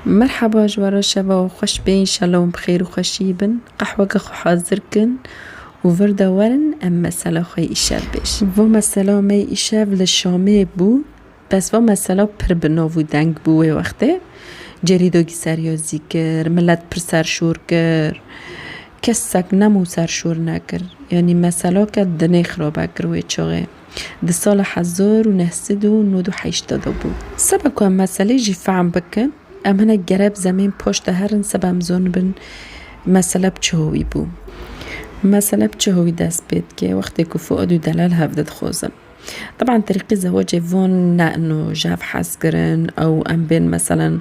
Merhaba ji we re şeva we xweş be înşela wan bi xêr û xweşiyê bin. Qehweke xwe hazir kin û vir de werin em mesela xwe yê îşev bêjin. Va mesela me yê îşev li Şamê bû. Bes va mesela pir bi nav û deng bû wê wextê. Cerî dogî seryazî kir, milet pir serşor kir. Kesek nem û serşor nekir. Yanî meselake dinê xirabe kir wê çaxê. Di sala hezar û neh sed û nod û heşt de bû. Seba ku em meselê jî fehm bikin, em hinek gereb zemên paş de herin seba em zonibin mesele bi çi howî bû. Mesele bi çi howî dest pê dike, wextê ku Fuad û Delal hev de dixwazin. Teban terîqî zewacê van ne ino ji hev hez kirin, ew em bên meselen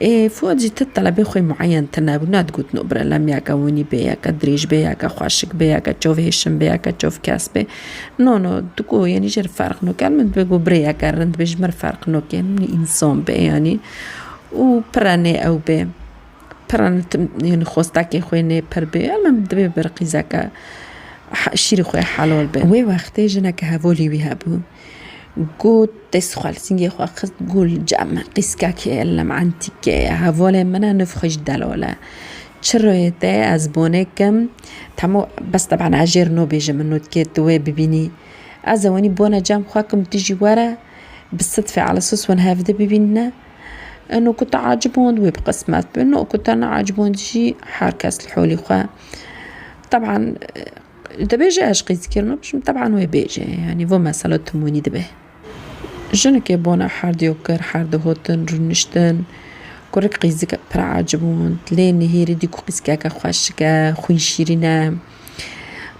Ê Fuat jî ti telebê xwe mueyen tine bû, ne digot no bire lem ya ke winî bê ya ke dirêj bê ya ke xweşik bê ya ke çav hêşin bê ya ke çav kes bê. No no tu ku yanî ji re ferq no ker min dibe ku birê ya ke rind bê ji min re ferq no kê min însan bê yanî û pire nê ew bê pire ne tim yanî xwestakê xwe nê pir bê ya min dibê bir qîzeke he şîrê xwe helal be. Wê wextê jineke hevalî wî hebû. Got, Dest xwe li singê xwe xist ku li cem qîskek e lem entîk e. Hevalên min e nûv xwe ji delal e. Çi rihê te ez bonê kim temo bes teban ez jê rino bêjim min nûdkê tu wê bibînî. Ez ê wenî bona cem xwe kim tu jî were bi sidfê Elesos hûn hev di bibînine. Ino ku te aciband wê bi qismet be, ino ku te neaciband jî her kes li holî xwe. Teban Dibêje ez qîz kîr nabijim teban wê bêje yanî vo mesela timûnî dibe. Jinike bona herdîyo kir herdî hotin rûniştin kurik qîzik pir ecibûnd lê nihêrî dî ku qîzkeke xweşike xwîn şîrîn e.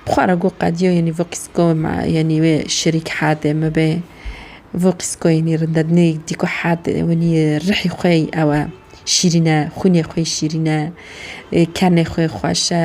Bi xwe re got qedîyo yanî vo qîzko yanî wê şirîk herdê min be. Vo qîzko yanî rindednêk dî ku herdê winî rihî xwe yî ew e şîrîn e xwînê xwe yî şîrîn e kenê xwe yî xweş e.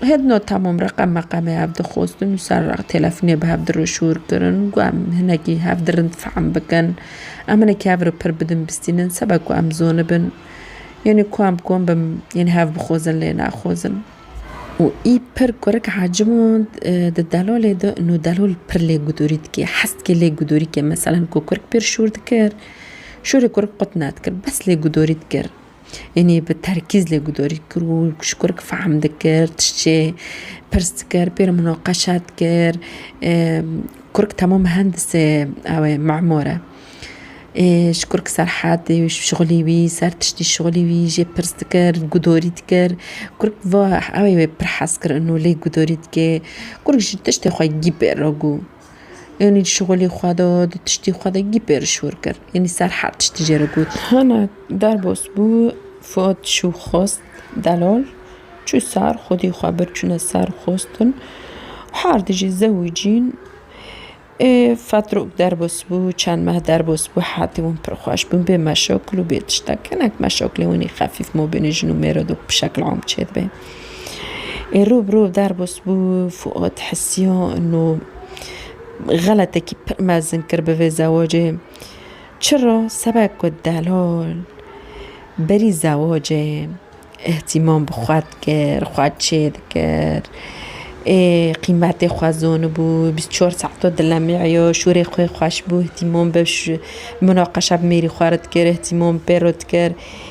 Her no tamam reqem meqemê hev dixwestin û ser req têlefonê bi hev diroşûr kirin ku em hinekî hev di rind fehm bikin. Em hinekî hev re pir bidin bistînin seba ku em zonibin. Yanî ku em kom bin yanî hev bixwezin lê naxwezin. Û î pir kurik Hacimond di Delolê de no Delol pir lê gudorî dike. Hez dike lê gudorî ke meselen ku kurik pir şûr dikir, şûrê kurik qut nedikir. Bes lê gudorî dikir. Yanî bi terkîz lê guhdorî kir û ji kurek fehm dikir tiştê pirs dikir pê re muneqeşa dikir kurek temam hendisê ew ê memur e ji kurek serhedê û şixulî wî ser tiştî şixulî wî jê pirs dikir guhdorî dikir kurek va ew ê pir hez kir û lê guhdorî dikê kurek ji tiştê xwe yî bêro gû. Yanî di şixulê xwe de, di tiştê xwe de gîp êriş hûr kir. Yanî ser her tiştî jê re got. Hene derbas bû, Fuat şû xwest delal. Çû ser, xwedî xwe bir çûne ser xwestin. Her dijî zewî cîn. Ê fetrok derbas bû, çend meh derbas bû, hetê wan pir xweş bûn. Bê meşakil û bê tiştek. Hinek meşakilên wan ê xefîf mabênê jin û mêr re dok bi şekil am çêdibe. Ê rû bi rû derbas bû Fuad Hesyan û xeletekî pir mezin kir bi vê zewacê. Çira? Sebek ku delal berî zewacê îhtîmam bi xwe dikir, xwe çêdikir. Ê qîmetê xwe zanibû, bîst û çar saeta dilemîya, şûrê xwe xweş bû îhtîmam bi munaqeşa bi mêrî xwe re dikir, îhtîmam pê re dikir.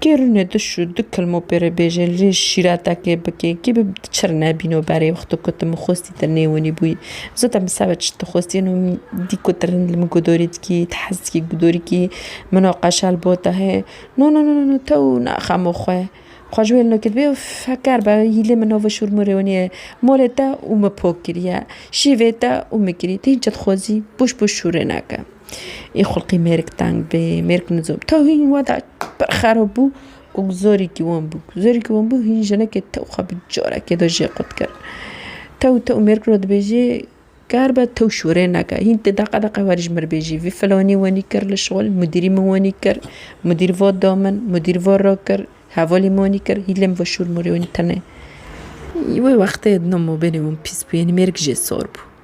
Kê rûne tu şû du kilmo pê re bêje li rê şîretekê bike. Kê bi çir nebîno berê wexto ku tu min xwestî te nêwenî bûyî. Zo te min seba çi dixwestî eno min dî ku tu rind li min gudorî dikî, tu hez dikî gudorîkî minoqeşa li bo te heye. No no no no tew naxemo xwe. Xwe ji wê li no kir bêyo feker be hîlê min nava şûr min rêwenîye. Molê te û min pok kiriye. Şîvê te û min kirî. Tu hîn çi dixwezî? Boş boş şûrê neke. Ê xulqî mêrik teng bê, mêrik nizo bû. Taw hîn wada pir xerab bû û zorîkî wan bû. Zorîkî wan bû hîn jinekê taw xwe bi carekê de jê qut kir. Taw taw mêrik re dibêjê ger be taw şûrê neke. Hîn ti deqe deqe werî ji mir bêjî vî filanî wenî kir li şixul, mudîrî min wenî kir, mudîr va da min, mudîr va rakir, hevalî min wenî kir, hîn lê min ve şûr mûrê wenî tenê. Wê wextê di nav mabênê wan pîs bû, yenî mêrik jê sor bû.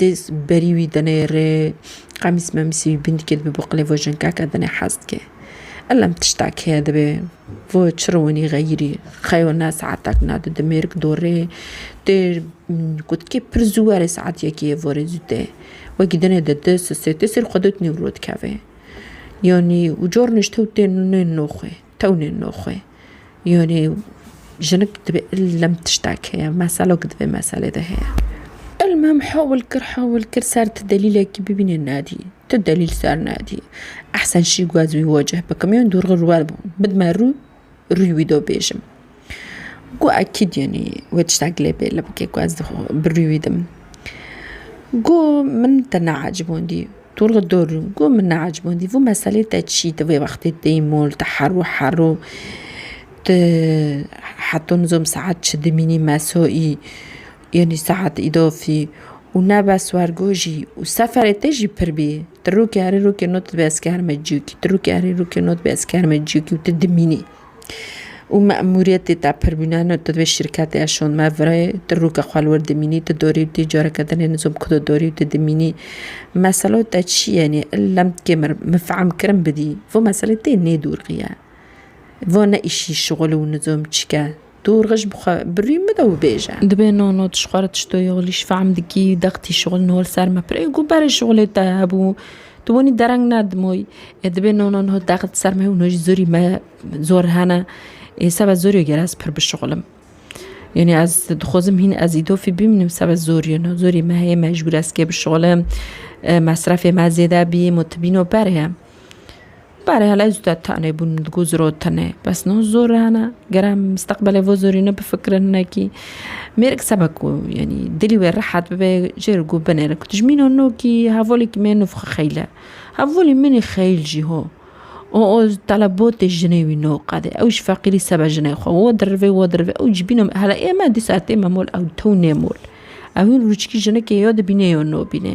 Dêz berî wî dine rê, qemîs memîsî wî bin dike dibe bo qilê vo jinkeke dine hez dike. Elem tiştek heye dibe, vo çiro wenî xeyirî, xeyo ne saetek ne du dimêrk do rê, tê gotikê pir zû were saet yekê yê vorê zû tê. Wekî dine de di sisê tê sêr xwe dot nêwro dikeve. Yanî û carnê ji tew tên nên noxê. Tewnên noxwe. Yonê jinik dibê ilm tiştek heye, meselok dibê meselê de heye. Ilm hem hewil kir hewil kir ser ti delîlekî bibîne nedî. Ti delîl ser nedî. Ehsen şî guhaz wî wecih bikim. Yon dûrxir wer bidme rû rûyê wî de bêjim. Got ekîd yenî wê tiştek lê bê li bikê ku ez dixwazim bi rûyê wî dim. Got min te neecibandî tu li dor rû got min neecibandî vû meselê te çî tu vê wextê têyî mol tu herû herû tu heta nizam saet çi dimînî mesaî yenî saet îdafî û ne bes wergojî û seferê te jî pir bî tu rokê herî rokê nod dibê ez kerime ciyokî tu rokê herî rokê nod dibê ez kerime ciyokî û tu dimînî. Û memûriyetê te pir bûne no tu divê şîrketê eşon me virê tu rûke xwe li wir dimînî tu dorî û tî careke din ê nizom ku tu dorî û tu dimînî meselo te çi ye nê illa min kê mir min fehm kirin bidî vê meselê tê nêdûrxiye vê ne îşî şixul û nizom çike Tu rij bi xwe birî mide û bêje. Dibe no no tu ji xwe re tişto yolî, ji fehm dikî, dextî şixul nol ser me pirê ku berê şixulê te hebû, tu wenî dereng nedimoyî. Ê dibe no no no dext ser me û no jî zorî me zor hene. Ê sebe zor yo gere ez pir bişixulim. Yanî ez dixwazim hîn ez îdofî bîmînim sebe zor yo no zorî me heye mecbûr ez kê bişixulim, mesrefê me zêde bî, mutibîno berê. Pare hala ez te tane bûn min digot ziro tine bes no zor hene gere em misteqbelê vê zorî nebifikirin hinekî mêrik sebe ku yanî dilî wê rehet bibe jê re ku binêre ku tu ji mîna no kî hevalekî me nûfxi xeyl e hevalê min ê xeyl jî ho û oz telebotê jinê wî no qedê ew ji feqîrî sebe jinê xwe wo dirivê wo dirivê ew ji bîna me hela ême dîsa tême mol ew tew nê mol ew hin rûçikî jinekê yo dibînê yo nobînê.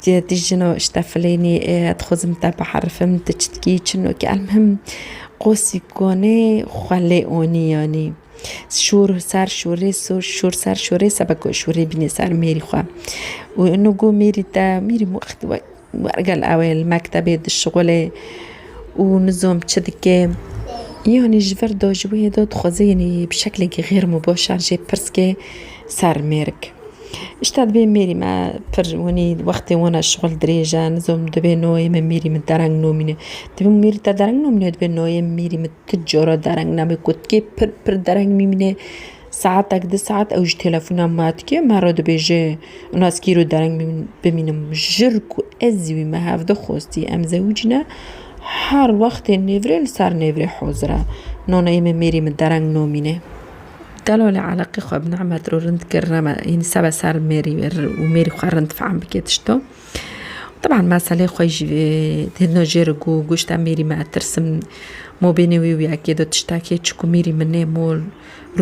Ti di jino işte filênî dixwazim te biherifim ti çi dikî çinokî elmihim qosî konê xwe lê onî yanî şûr ser şûrê şûr ser şûrê sebe ku şûrê bînê ser mêrî xwe û ino got mêrî te mêrî wextî wek wergel ew ê li mektebê dişixulê û nizom çi dikê yanî ji vir de ji wê de dixwazê yanî bi şeklekî xêr û baş an jê pirs kê Ser mêrik. Îşta divê mêrî me pir winî wextê wana şixul dirêj e. Nizom divê noyê me mêrî min dereng nomîne. Divê min mêrî te dereng nomîne divê noyê mêrî min ti cora dereng name ku tikê pir pir dereng mîmîne saetek di saet ew ji telefona ma dikê me re dibêje ina ez kîro dereng bimînim jir ku ez wî me hevdi xwestî em zewij ne her wextê nêvrê li ser nêvrê hozir e. Noneyê me mêrî min dereng nomîne. Gelo lê eleqê xwe bi Nehmet re rind kir reme yanî sebe ser mêrî û mêrî xwe rind fehm bike tişto. Teban meselê xwe jî têdino jê re ku goşte mêrî me tirsim mobênê wî û yekê de tiştekê çiku mêrî min nê mol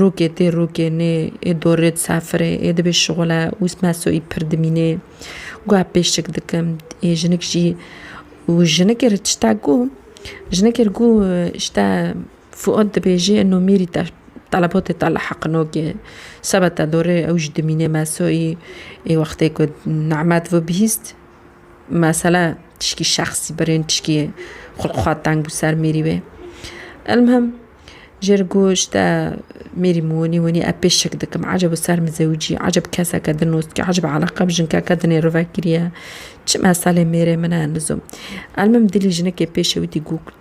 rokê tê rokê nê ê dorê di ser firê ê dibê şixule û mesoî pir dimînê guhe pêşik dikim ê jinik jî û jinikê re tiştek got jinikê re got îşte Fuat dibêje eno mêrî te telebatê te li Heqinokê seba te dore ew jî dimîne mesoyî ê wextê ku Nemet ve bihîst mesela tişkî şexsî birên tişkî xwe li xwe teng bû ser mêrî wê. Elmhem jê re got ji te mêrî min wenî wenî ez pê şik dikim ecebo ser min zewicî ecebo keseke din û ecebo eleqa bi jinkeke dinê rivek kiriye çi meselê mêrê min e nizom. Elmhem dilê jinekê pêşewitî got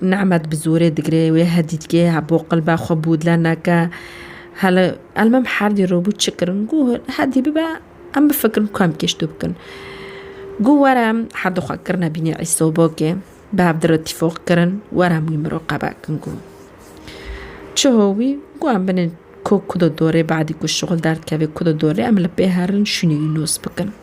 Nemet bi zorê digirê wê hedîtgê hebû qilba xwe bûdle neke. Hele elmem herdî robû çi kirin gû hedî bibe em bifikirin ku em kêştû bikin. Gû were em herdî xwe kirine bînê îsobokê bi hev dire tîfoq kirin were em wî miro qebe kin gû. Çi ho wî gû em binê ko ku de dorê badî ku şixul derdikevê ku de dorê em li pê herin şûnê wî nos bikin.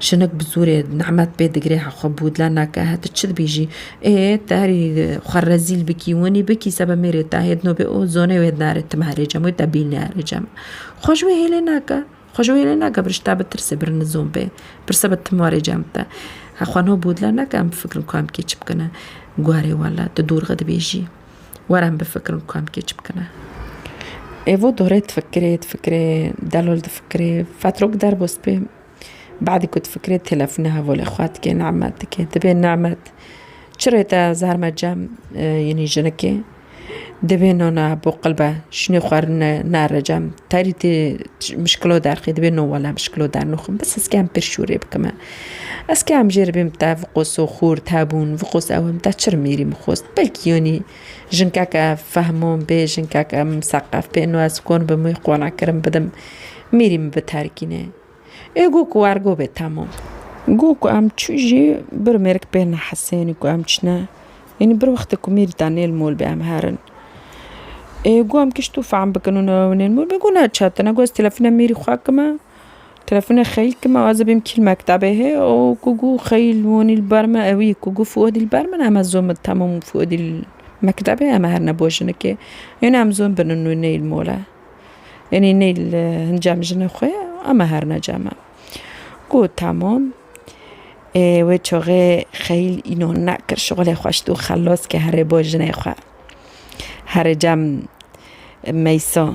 Şinik bi zorê Nemet pê digirê hexwe bûdle neke he tu çi dibêjî? Ê te herî xwe rezîl bikî winî bikî sebe mêrê te hêdno bê û zonê wê dinare tim herê cem wê te bînê herê cem. Xwe ji wê hêlê neke. Xwe ji wê hêlê neke bir ji te bitirsê bir nizon bê. Bir sebe tim warê cem te. Hexwe no bûdle neke em bifikirin ku em kê çi bikine. Guherê wele tu dorxe dibêjî. Were em bifikirin ku em kêç bikin e. Evo dorê difikirê, difikirê, Delol difikirê, Fetrok derbû spê. Badî ku difikirê telefûnê hevolê xwe dike, Nemet dike. Dibê Nemet çi rê te zarme cem yînî jinikê. Dibê nana bo qilbe şûnê xwe rine nere cem. Terî tê mişkilo derxî dibê no wele mişkilo dernûxim. Bi sisken pir şûrê bikime. Ez ke em jê re bêm te viqoso xûr te bûn, viqos ew em te çi re mêrî mixost. Belkî yanî jinkeke fehmon bê, jinkeke miseqef bê ino ez kon bim wî qona kirin bidim, mêrî min biterkîne. Ê got ku ergo bê temam. Got ku em çû jî bir mêrik pê nehesenî ku em çine. Yanî bir wextê ku mêrî te nêl mol bê em herin. Ê got em kişt û fehm bikin ino ew nêl mol bê. Got ne çetine, got ez telefona mêrî xwe kime. Telefona Xeyl ki me azibîm kîl mektabê hê o ku gu Xeyl wonî li ber me ewî ku gu Fuadî li ber min eme zon min temam Fuadî li mektabê eme her ne bo jinikê yanî em zon binin wê ney li mole yanî ney li hin cem jinê xwe eme her ne cem e gu temam ê wê çaxê Xeyl îno nekir şixulê xweş dû xelas ke herê bo jinê xwe herê cem Meysa.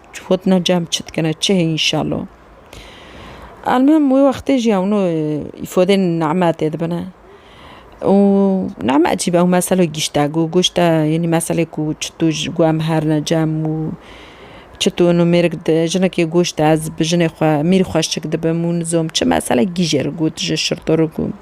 Xwet na cem çi dikine çi heye înşallo. Elmuhim wê wextê jî ewno îfodên name tê dibine. û name ecîb ew meselo gîşte got goşte yenî meselê ku çi tu ji ku em herine cem û çi tu nu mêrik di jinekê goşte ez bi jinê xwe mîr xweşik dibim û nizom çi mesele gîjêr got ji şirtorok û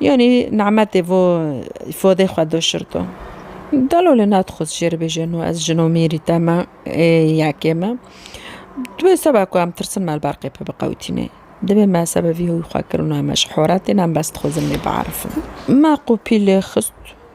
Yanî nemetê vo îfadê xwe do şirto. Gelo li nat xwist jê re bêje no ez jin û mêrî te me ê yekê me. Di wê seba ku em tirsin me li ber qêpê biqewitîne. Divê me seba vî hûyî xwe kirino em ji horetê ne em bes dixwazin wê biarifin. Me qopî lê xist.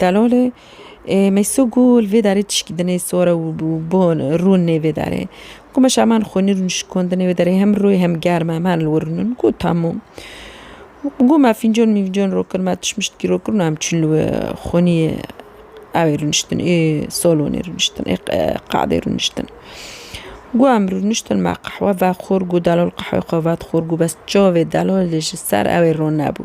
Delalê Mêso got, Li vê derê tişkî di nê sor e û bon e, rûn nê vê derê. Got, Meşa em an xwînî rûn şikon di nê vê derê hem rû hem germ e, em herin li wir rûn in. Got, Temû. Got, Me fîncon mîncon rû kir, me tişt mişt kî rû kir û em çûn li wir xwînî evê rûniştin ê salonê rûniştin ê qadê rûniştin. Got, Em rûniştin me qehwe vexwir, got delal qehweyê xwe vet xwir, got bes çavê delalê ji ser ewê rûn nebû.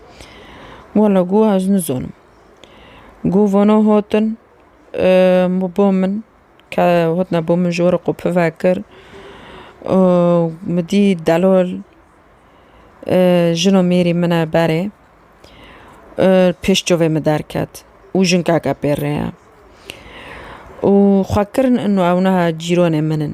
Wala goh ez nizanim. Goh vana hatin bo min ke hatine bo min ji we re qopî vekir û min dî delal jina mêrî min e berê pêş çavê min derket û jinkeke pê re ye û xwekirin ino ew niha cîranê min in.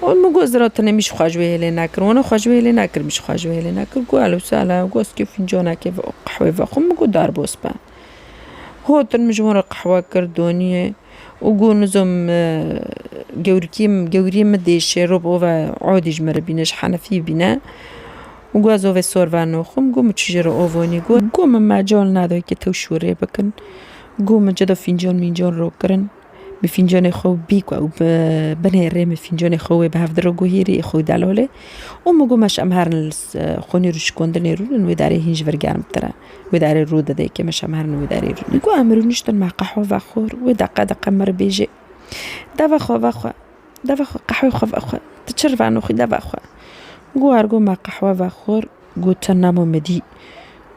Wan goz ra tenê min jî xwe ji wê hêlê nekir, wana xwe ji wê hêlê nekir min jî xwe ji wê hêlê nekir got helo sala goz kê fîncanekê ve qehwê vexwe min got derbas be. Hatin min ji wan re qehwe kir doniyê û got nizam gewrikê min gewriyê min dê şêrob ove adî ji min re bîne ji henefî bîne û got ez ovê sor ve naxwe min got min çije re ava nî got min mecal neda weke tew şûrê bikin got min cida fîncan mîncan rakirin. Bi fîncanê xwe bîk we û bi binê rê min fîncanê xwe wê bi hev diro gohî rê xwe wî delolê û min got me şem herin li xwînê rû şikandinê rû lin wê darê hîn ji vir germtir e. Wê darê rû dide yekê me şem herin wê darê rû. Got em rûniştin me qehwe vexwir wê deqe deqe min re bêjê deve xwe vexwe deve xwe qehwê xwe vexwe tu çi rivano xwî deve xwe. Got ergo me qehwe vexwir got tu nemo midî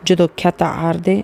cida kete erdê.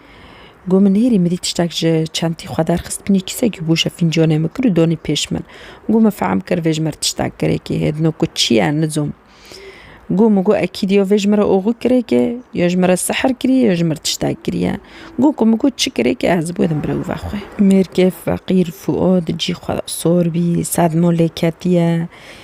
Got min hêrî mirî tiştek ji çentî xwe derxist binî kîsekî bûşe fîncanê min kir û danî pêş min. Got min fehm kir vê ji mir tiştek girêkê hê dino ku çi ye nizom. Got min got ekîd ya vê ji mir oxû kirêkê ya ji mir sihir kiriye ya ji mir tiştek kiriye. Got ku min got çi kirêkê ez bû din birewve xwe. Mêrkê feqîr Fuad cî xwe sor bî sedma lê ketiye.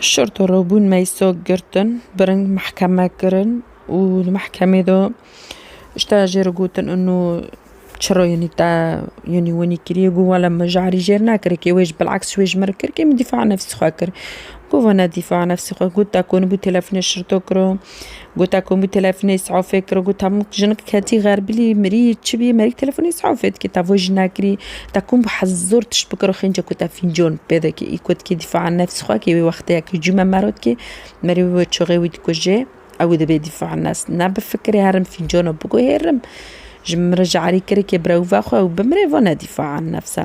Şerta robûn Meysa girtin, bi ring mehkeme kirin û di mehkemê de ji te re jê re gotin û çira yanî te yanî winî kiriye got wele min ji herî jê re nekiriye kê wê ji bilehks ji wê ji min re kir kê min dîfaê nefsî xwe kir. Got wene dîfaê nefsî xwe kir te konibû telefonê şerto kiro. Gota ku min telefonê safê kir û got hemû jinik ketî xerbilî mirî çi bî merî telefonê safê dikî te voj nekirî te kom bi hez zor tişt bikir û xênce ku te fîncon pê dikî î ku dikî dîfa an nefs xwe kî wî wextêya kî cûme mero dikî merî wî wê çixê wî dikujê ew ê dibê dîfa an nefs ne bi fikirê herim fîncano biguhêrim ji min re ji erî kirikê birewve xwe ew bimire vane dîfa an nefs e.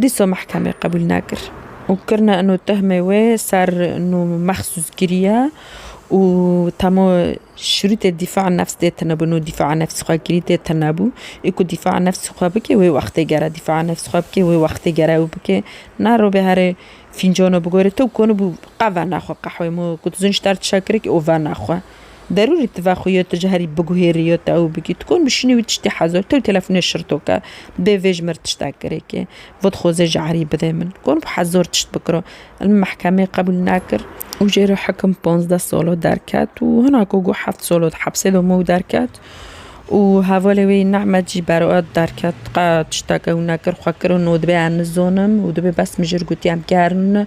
Dîsa mehkemê qebûl nekir û kirina ino tehmê wê ser ino mexsûs kiriye û temo şirûtê dîfa nefs dê tine bo ino dîfa nefs xwe kirî dê tine bo ê ku dîfa nefs xwe bike wê wextê gere dîfa nefs xwe bike wê wextê gere ew bike na robê herê fîncano bigore to konibû qe vena xwe qehwê mo ku tu zû ji te re tiştekirek û vena xwe. Derûrî tive xwe yo tu ji herî biguhêrî yo te ew bikî. Tu kom bişînî wî tiştî hezo. Tew telefonê şirto ke. Bê vê ji mir tiştek girêkê. Vot xwezê ji erî bidê min. Kom bi hezor tişt bikiro. Min mehkemê qebûl nekir. Û jê re hikim ponzdeh salo derket û hina ku got heft salo di hepsê de mû derket û hevalê wê yî Nehmed jî beroet derket. Qet tiştek ew nekir. Xwe kirino dibê ez nizonim û dibê bes min jir gotî em kerine.